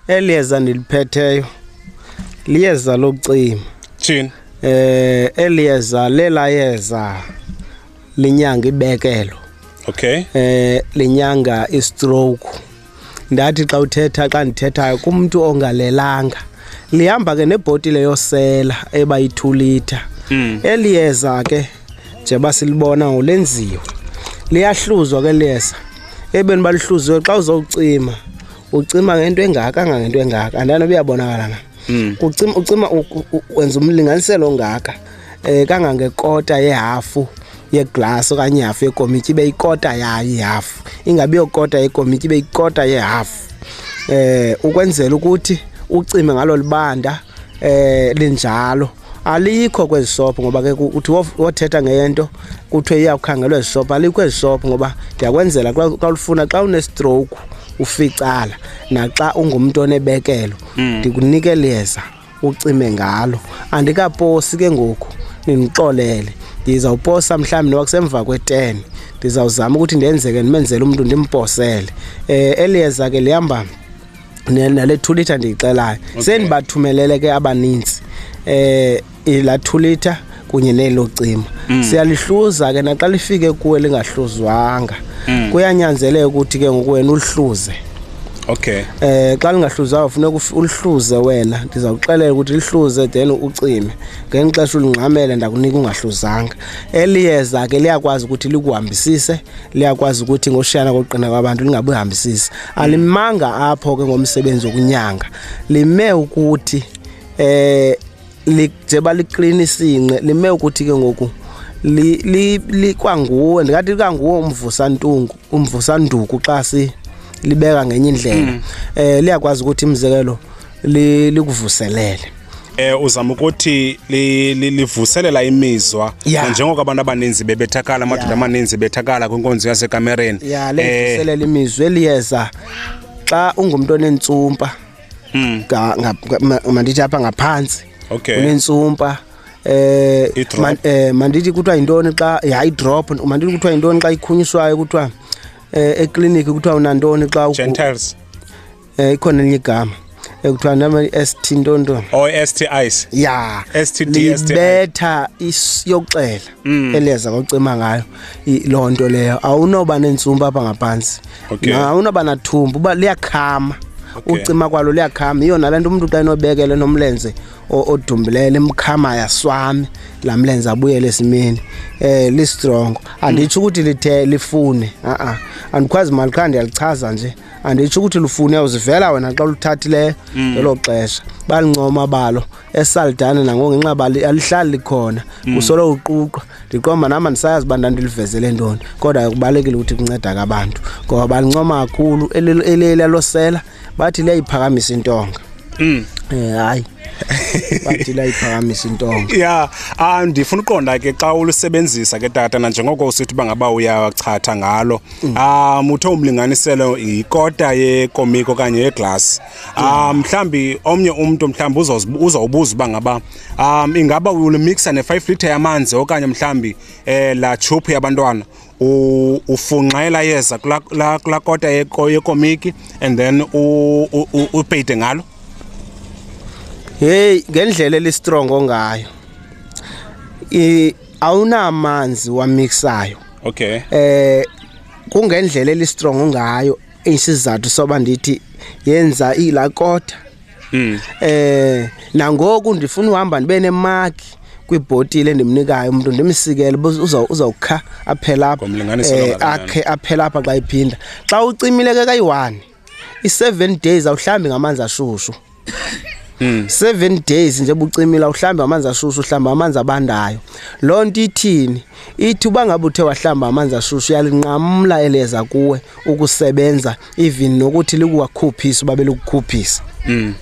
Eli yeza ndiliphetheyo liyeza lokucima. Thini? Eh eli yeza lela yeza linyanga ibekelo. Okay. Eh linyanga istroke. Ndathi xa uthetha xa ndithethayo kumuntu ongalelanga. Lihamba ke nebhotile yosela eba yithulitha. Mm. Eli yeza ke nje basilibona ngolenziwe. Liyahluzwa ke liyeza. Ebeni balihluziwe xa uzocima ucima ngento engaka kangangento engaka andanoba uyabonakala na hmm. ucima ucima wenza umlinganiselo ongaka um eh, kangangekota yehafu yeglasi okanye ihafu yekomityi ibe ikota yayo ihafu ingabi yokota yekomityi ibe ikota yehafu um eh, ukwenzela ukuthi ucime ngalo libanda um linjalo alikho kwezi sophu ngoba ke uthi wothetha ngeyento kuthiwe iyawukhangelwa ezi sophu alikho ezi sophu ngoba ndiyakwenzela xa ulifuna xa unestroke uficala naxa ungumntu onebekelo mm. ndikunike liyeza ucime ngalo andikaposi ke ngoku nindixolele ndizawuposa mhlawumbi noba kusemva kwe-ten ndizawuzama ukuthi ndenzeke ndimenzele umntu ndimposele um eh, eliyeza ke lihamba nale two litre ndiyixelayo okay. sendibathumelele ke abaninzi eh la two litre kunye nelo cima mm. siyalihluza ke naxa lifike kuwe lingahluzwanga mm. kuyanyanzeleka ukuthi ke ngoku wena ulihluze okay eh xa lingahluzwayo funeka ulihluze wena ndiza kuxelela ukuthi lihluze then ucime ngenye xesha ulingxamele ndakunika ungahluzanga eliyeza ke liyakwazi ukuthi likuhambisise liyakwazi ukuthi ngoshiyana kokuqina kwabantu lingabuyihambisisi alimanga apho ke ngomsebenzi wokunyanga lime ukuthi eh njengoba liklina isinqe lime ukuthi ke ngoku likwanguwe ndingathi likanguwe umvusantungu umvusanduku xa si libeka ngenye indlela um liyakwazi ukuthi imizekelo likuvuselele eh uzama ukuthi li- li- livuselela imizwa Yeah. njengoko abantu abaninzi bebethakala amadoda Yeah. amaninzi bethakala kwinkonzo yasekamereni ya Eh, lengiselela imizwe liyeza xa ungumntu onentsumpa mm, ga- nga- nga- ma- mandithi apha ngaphantsi okay unentsumpa eh I-drop. man- eh, mandithi kuthiwa yintoni xa hayi drop mandithi kuthiwa yintoni xa ikhunyiswayo kuthiwa eh ekliniki kuthiwa unantoni xa ugu- gentiles Eh ikhona elinye igama ekuthiwa nama ST ntonto. Oh ST ice. Yeah. STD ST. Libetha isiyoxela mm. eleza kocima ngayo lonto leyo. Awunoba nensumpa apha ngaphansi. Okay. Awunoba nathumbu uba liyakhama. Okay. Ucima kwalo liyakhama. Iyona lento umuntu xa enobekele nomlenze odumbileyo limkhama yaswami la mlenze abuyele esimeni eh li strong anditsho ukuthi lithe lifune a a andikwazi mali qha ndiyalichaza nje anditsho ukuthi lufune uzivela wena xa luthathileyo mm. ngelo xesha balincoma balo esaldane nango ngenxa bali alihlali likhona mm. kusolo uquqwa ndiqomba nam andisayazi uba ndandilivezele ntoni kodwa kubalulekile ukuthi kunceda kabantu ngoba balincoma kakhulu elelelosela bathi liyayiphakamisa intonga mm. eh, hayi bathi layiphakamisa intonga ya ah, ndifuna uqonda ke xa ulusebenzisa ke tata nanjengoko usithi uba ngaba uyachatha ngalo um ah, uthe umlinganiselo yikota yekomiki okanye yeglasi um ah, mhlawumbi omnye umntu mhlawumbi uzawubuza uba ngaba um ingaba ulimixa ne-five litre yamanzi okanye mhlawumbi um eh, laa tshuphu yabantwana ufunxela yeza kulaa kota yekomiki and then upeyide ngalo heyi ngendlela elistrongo ngayo awunamanzi wamixayo okay eh kungendlela elistrong ngayo isizathu soba ndithi yenza ilakota mm. eh nangoku ndifuna uhamba ndibe nemaki kwibhotile endimnikayo umuntu ndimsikele uzawukha aphela apha eh, akhe aphela apha xa iphinda xa ucimile ke kayi-one i-seven days awuhlambi ngamanzi ashushu Hmm. seven days nje bucimila uhlamba amanzi ashushu uhlamba amanzi abandayo loo nto ithini ithi uba ngabe uthe wahlamba amanzi ashushu uyalinqamla eleza kuwe ukusebenza even nokuthi likuwakhuphisa uba belikukhuphisa hmm.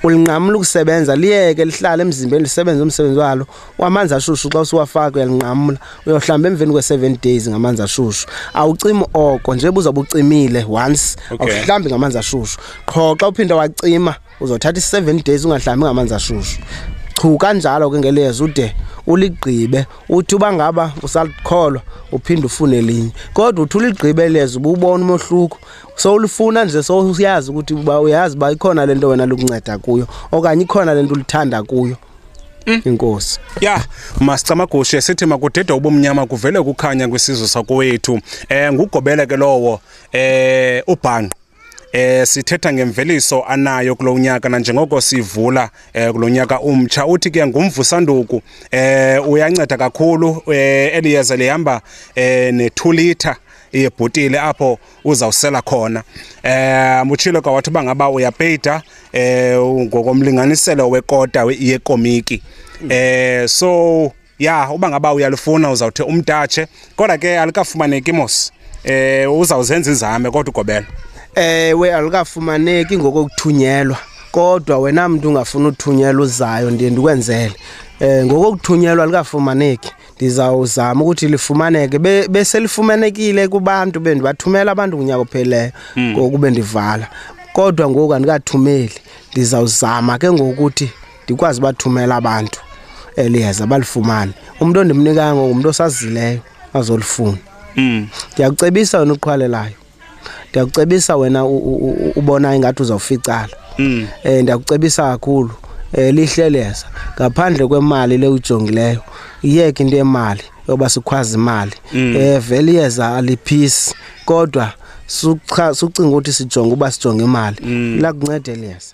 ulinqamla ukusebenza liyeke lihlale emzimbeni lisebenze umsebenzi walo wamanzi ashushu xa usiwafaka uyalinqamla uyohlamba emveni kwe-seven days ngamanzi ashushu awucimi oko nje buzawube ucimile once okay. awuhlambi ngamanzi ashushu qho xa uphinde wacima uzothatha i-seven days ungahlambi ngamanzi ashushu chu kanjalo ke ngelezi ude uligqibe uthi uba ngaba usalikholwa uphinde ufune linye kodwa uthi uligqibe lezi ububona umohluko sowulifuna nje sowuyazi ukuthi uba uyazi uba ikhona le nto wena lukunceda kuyo okanye ikhona le nto ulithanda kuyo Mm. inkosi ya masicamagushe sithi makudida ubumnyama kuvele kukhanya kwisizwe sakowethu eh ngugobele ke lowo eh ubhanqo eh sithetha ngemveliso anayo kulonyaka na njengoko sivula eh kulonyaka umtsha uthi ke ngumvusanduku eh uyanceda kakhulu eh eliyeza lihamba eh ne 2 liter yebhotile apho uzawusela khona um utshilo ka wathi uba ngaba uyapeyita um ngokomlinganiselo wekota yekomiki um so ya uba ngaba uyalufuna uzawuthi umtatshe kodwa ke alikafumaneki mos um uzawuzenza izame kodwa ugobela ewe eh, alikafumaneki ngokokuthunyelwa kodwa wena mntu ungafuna uthunyelwa uzayo ndiye ndikwenzele um ngokokuthunyelwa alikafumaneki ndizawuzama ukuthi lifumaneke Be- beselifumanekile kubantu bendibathumela abantu kunyaka ophelileyo Hmm. ngoku bendivala kodwa ngoku andikathumeli ndizawuzama ke ngokuthi ndikwazi ubathumela abantu eliyeza balifumane umntu ondimnikayo ngoku ngumntu osazileyo azolifuna Mm. ndiyakucebisa wena uqhwalelayo ndiyakucebisa wena ubona ingathi uzawuficala um ndiyakucebisa kakhulu um lihleleza ngaphandle kwemali le ujongileyo iyeke into yemali yoba sikhwazi imali um vele iyeza aliphisi kodwa sucinga ukuthi sijonge uba sijonge imali mm. lakunceda eliyeza